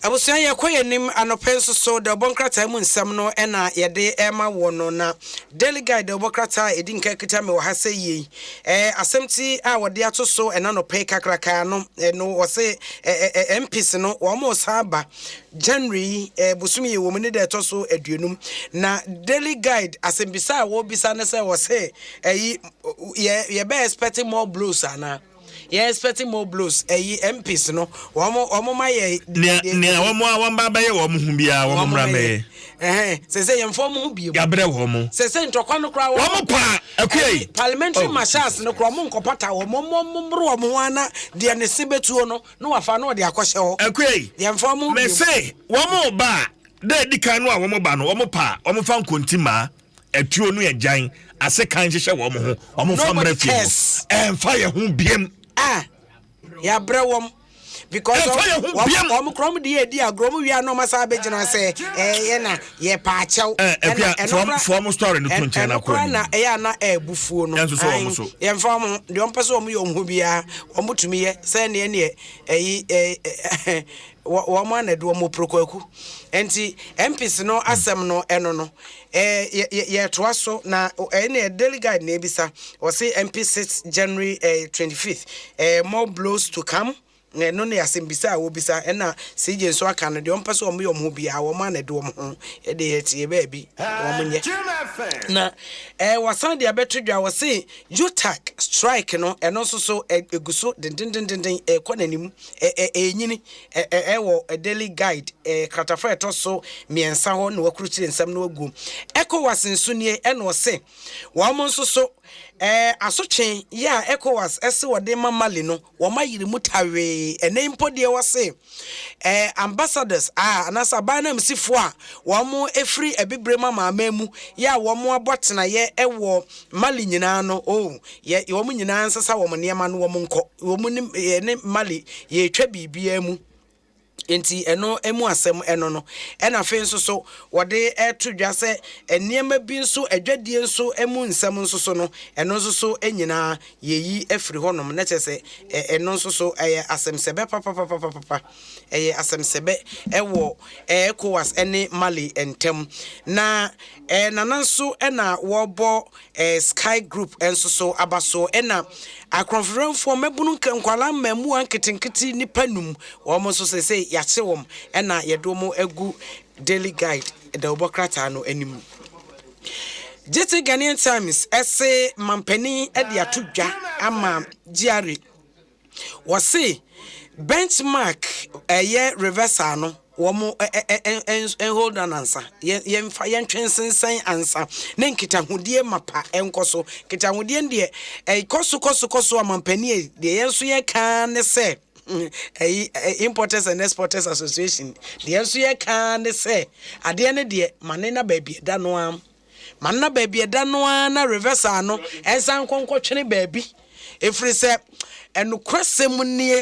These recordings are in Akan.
Abusua yɛkɔ yɛn anim anɔpɛ nso so dawubɔ nkrataa mu nsɛm no na yɛde rema woɔ no na Daily Guide dawubɔ krataa a ɛdi nka kita me wɔ ha sɛ yie eh, asɛmti a wɔde ato so ɛna nɔpɛ yi kakraka no eh, no wɔse eh, eh, eh, MPs no wɔn mo san ba January yi eh, bosom yi wɔ mu ne da ɛtɔ so aduonum na Daily Guide asɛmbisa a wɔbisa ne sɛ wɔse ɛyi eh, yɛ yɛbɛ expect more blows anaa Yɛn expect more blows ɛyi MPs no wɔn wɔn ma yɛ. Nea nea wɔn a wɔn ba abɛyɛ wɔn ho biara wɔn mmra mmɛyɛ. Ɛhɛn sɛ sɛ yɛn fɔm ho bie mu. Yabrɛ wɔn. Sɛ sɛ ntɔkwa no koraa wɔn. Wɔn pa akuya yi. Parliamentary oh, marshals no koraa wɔn nkɔpata wɔn wɔn wɔn mmoro wɔn ho ana deɛ ne se bɛtuo no na wafa no wɔde akɔhyɛ hɔ. Akuya yi. Yɛn fɔm ho bie mu. Mɛse wɔn ba a dɛ di kan no a wɔn ba no wɔn pa wɔn fa nkonti maa. atuo no agyan ase kan hyehyɛ wɔn ho wɔn mfa mmerɛ fie hɔ ɛmfa yɛ ho biem a yɛabrɛ wɔm because wɔn krom de yɛ di agorɔ wɔn wia na wɔn asan abɛgyina sɛ ɛyɛ na yɛ paakyɛw ɛna ɛnokora ɛnokora na ɛyɛ ana ɛbufuo no yɛnfa wɔn deɛ wɔn pɛ sɛ wɔn yɛ wɔn ho biara wɔn tumi yɛ sɛ neɛ neɛ ɛyi ɛɛ. wɔ wɔn a na ɛde wɔn prokuaku nti MPs no hmm. asɛm no ɛno no ɛɛ yɛ yɛ yɛtoa so na ɛyɛ na yɛ daily guide na ebisa wɔsi MP six January ɛɛ twenty fifth ɛɛ more blows to come ɛno ne asɛmbisa a wɔbisa ɛna cj nso aka no deɛ ɔmpɛ sɛ ɔmo yɛ ɔmo ho biara wɔn a na ɛde wɔn ho ɛde yɛ tie baabi wɔn nyɛ na ɛɛ wasan de abɛto dwa wɔse utak strike no ɛno nso so ɛgu so dendendenden ɛkɔ n'anim Ɛ ɛ Ɛrenyini ɛ ɛ ɛ wɔ ɛ Daily Guide ɛ kratafa a ɛtɔ so mmiɛnsa hɔ na wɔakurukyire nsɛm no aguom. Ecowas nso nie na wɔse wɔn nso so ɛ asotwe yɛ a Ecowas se wɔde rema Mali no wɔn ayere mu tawee. Ɛnnɛ yi mpo deɛ wɔse ɛ ambassadors a anaasɛ aban ananmusifoɔ a wɔn firi Abibirem amanaman mu yɛ a wɔn abɔ atenaeɛ wɔ Mali nyinaa no oh Yɛ yɛ wɔn nyinaa nsesa wɔn nneɛma no wɔn nkɔ wɔn ne yɛ ne Mali yɛretwa biribiara mu nti ɛno mu asɛm ɛno no ɛna afei nso so wɔde ɛto dwa sɛ nneɛma bi nso adwadie nso mu nsɛm nso so no ɛno nso so nyinaa yɛyi afiri hɔnom na kyerɛ sɛ ɛno nso so ɛyɛ asɛmsɛbɛ papapapapapa ɛyɛ asɛmsɛbɛ ɛwɔ ECOWAS ɛne Mali ntam na ɛnana nso ɛna wɔbɔ Sky Group nso so aba so na akorɔnfrɛnfoɔ mmabunu nka nkwadaa mmaamua nketenkete nnipa num wɔn nso sesei yɛakye wɔn na yɛde wɔn agu Daily Guide dawubɔ krataa no anim. Gyete Ghanaian Times se mampanin de ato dwa ama Gyare. Wɔse benchmark ɛyɛ reversal no wɔn hold on ansa yɛmfa yɛntwe nsensɛn ansa ne nkitahodie mapa ɛnkɔ so nkitahodie no deɛ ɛkɔ so kɔ so kɔ so amampani deɛ yɛn nso yɛka ne sɛ ɛyi importers and exporters association deɛ nso yɛka ne sɛ adeɛ no deɛ mane na baabi ɛda no ara Ma nna baabi ɛda no ara na reversal no nsan nkɔ nkɔtwene baabi. Ɛfiri sɛ ɛnokorɛsɛm nie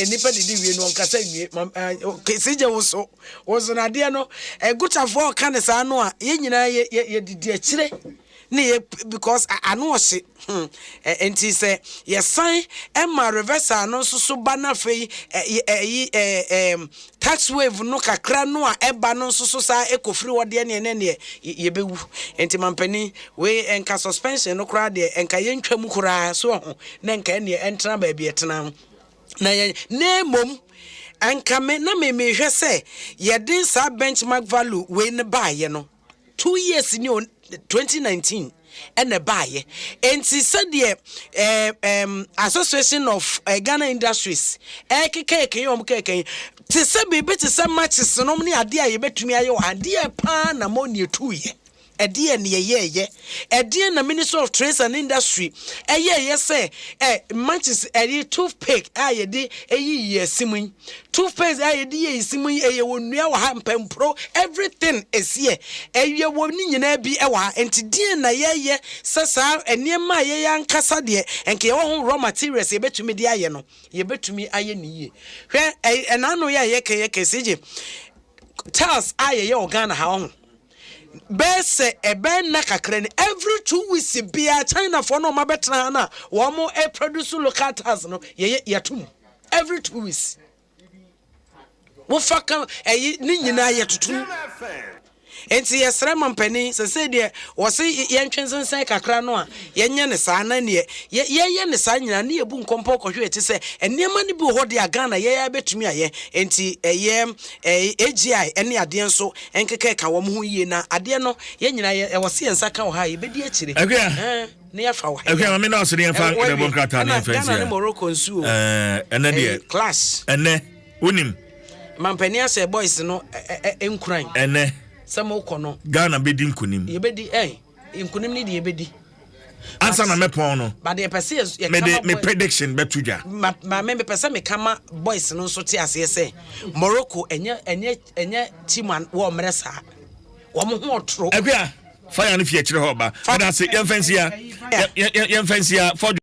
nnipa didi wie no ɔnkasa nwie sigye wo so wo so nadeɛ no gotafoɔ ɔka ne saa no a yɛn nyinaa yɛdidi akyire ne yɛ because ano ɔhye Hmm. Ɛ, nti sɛ yɛsan ma reversal no nso so ba na afei ɛ, ɛyi ɛ, ɛɛm tax wave no kakra no a ɛba no nso so saa ɛkɔfiri hɔ deɛ neɛ ne neɛ y- yɛbɛwu. Nti mampanin wei ɛnka suspension no koraa deɛ ɛnka yɛntwa mu koraa so ho na ɛnka ɛneɛ ɛntena baabi ɛtena no na yɛ na mmom ɛnka me na me mehwɛ sɛ yɛde saa benchmark value wei no baayɛ no two years ni o twenty nineteen ɛna ɛbaayɛ nti sɛdeɛ ɛɛ ɛɛm association of ɛɛ eh, ghana industries ɛɛkeka ɛkɛyɛ wɔn kɛkɛ yi te sɛ biribi te sɛ matches nom ne adeɛ a yɛbɛtumi ayɛ wɔ ha deɛ paa na mo ne ɛtuuyɛ ɛdeɛ ne yɛyɛɛyɛ Ɛdeɛn na Ministry of Trades and Industry yɛeɛ sɛ ɛ matches ɛyi toothpaste a yɛde ɛyi yɛ si mu yi toothpaste a yɛde yɛ si mu yi ɛyɛ wɔ nnua wɔ ha mpampuro everything ɛsiɛ ɛyɛ wɔ ne nyinaa bi ɛwɔ ha nti deɛn na yɛyɛ sɛ saa nneɛma a yɛyɛ ankasa deɛ ɛnka yɛwɔ ho raw materials yɛbɛtumi de ayɛ no yɛbɛtumi ayɛ ne yie hwɛ ɛnaano yɛ a yɛkɛ yɛkɛ sigye tiles a yɛyɛ wɔ Ghana ha wɔ ho Bɛyɛ sɛ ɛbɛyɛ nna kakra ni, every two weeks biara Chinafoɔ no a wɔabɛtena ha no a wɔproduce local tiles no, yɛyɛ yɛto mu every two weeks. Wofa ka ɛyi ne nyinaa yɛtoto mu. Nti yɛsrɛ mampanin sɛsɛ deɛ wɔse yɛntwe nsensɛn kakra no a yɛnyɛ ne saa na neɛ yɛyɛ ne saa nyinaa ne yɛbu nkɔmpɔ kɔhwɛ ɛte sɛ nneɛma no bi wɔ hɔ deɛ a Ghana yɛyɛ bɛtumi ayɛ nti ɛyɛ AGI ne adeɛ nso Nkeka ka wɔn ho yie na adeɛ no yɛn nyinaa yɛ ɛwɔ se yɛn nsa ka wɔ ha yɛbɛdi akyire. Akuya. Ɛɛ ne yɛ fa wɔ ha. Akuya maame na ɔsɛ ne yɛn fa ɛna bɔ nkrataa ne yɛn fɛn si ha. Ghana ne Morocco nsuo. Ɛɛ ɛnɛ deɛ. Class. Ɛnɛ wonim. Mampanin asɛ boys no ɛ ɛ nkuran. Ɛnɛ. Sɛ mo kɔ no. Ghana bɛdi nkunim. Yɛbɛdi ɛɛ. nkonim ne deɛ ɛbɛdi ansa na mɛpɔn no mede me prediction bɛto dwa maame mepɛ sɛ meka ma boys no nso te aseɛ sɛ morocco ɛnyɛ ɛnyɛ ɛnyɛ team a wɔ mmerɛ saa wɔn ho ɔtoro ɛkua fire no fi akyire hɔ ba ɛda ase yɛmfa nsia yɛmfa nsia